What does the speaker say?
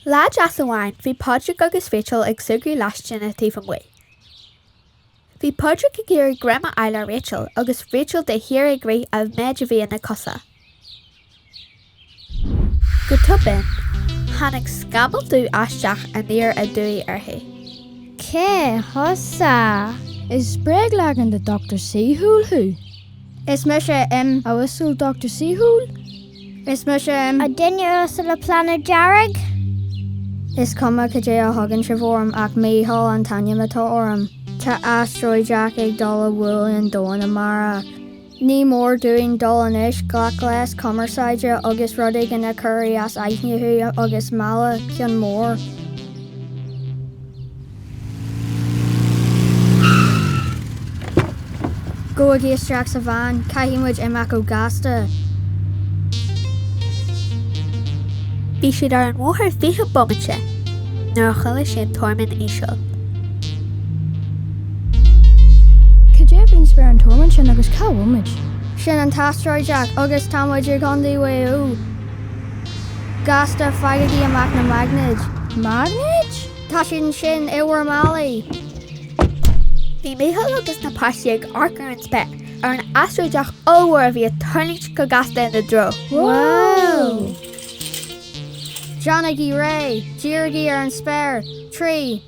Lá deas amháin bhí Pádraig agus Rachel ag súgradh leaistín taobh amuigh. Bhí Pádraig ag iarraidh greim a fháil ar Rachel agus Rachel de shíor ag rith a mhéid a bhí ina cosa. Go tobann, tháinig scamall dubh aisteach aniar aduaidh uirthi. Cé thusa? Is bréagleagan de Dochtúir Saoithiúil thú. Is mise M. A uasail Dochtúir Saoithiúil, is mise M. A duine uasal an phlainéid dheirg. Is cuma cad é a thugann sibh orm ach Mícheál an t-ainm atá orm. Tá astaróideach ag dul a bhualadh an domhan amárach. Ní mór dúinn dul anois, glac gléas cumarsáide agus rud éigin a chur i as aithne thú agus mealladh ceann mór. Gabhaigí isteach sa veain, caithfidh muid imeacht go gasta. Bhí siad ar an mbóthar fiche bomaite nuair a chuala siad tormán íseal. Cad é faoin spéir an tormán sin agus cá bhfuil muid? Sin an t-astaróideach agus tá muid i gContae Mhaigh Eo. Gasta, faighigí amach na maignéid. Maignéid? Tá siad ansin, i bhur málaí. Bhí Micheál agus na páistí ag amharc ar an spéir, ar an astaróideach ollmhór a bhí ag tarraingt go gasta ina dtreo. Wow! Déanaigí réidh. Dírigí ar an spéir. Trí.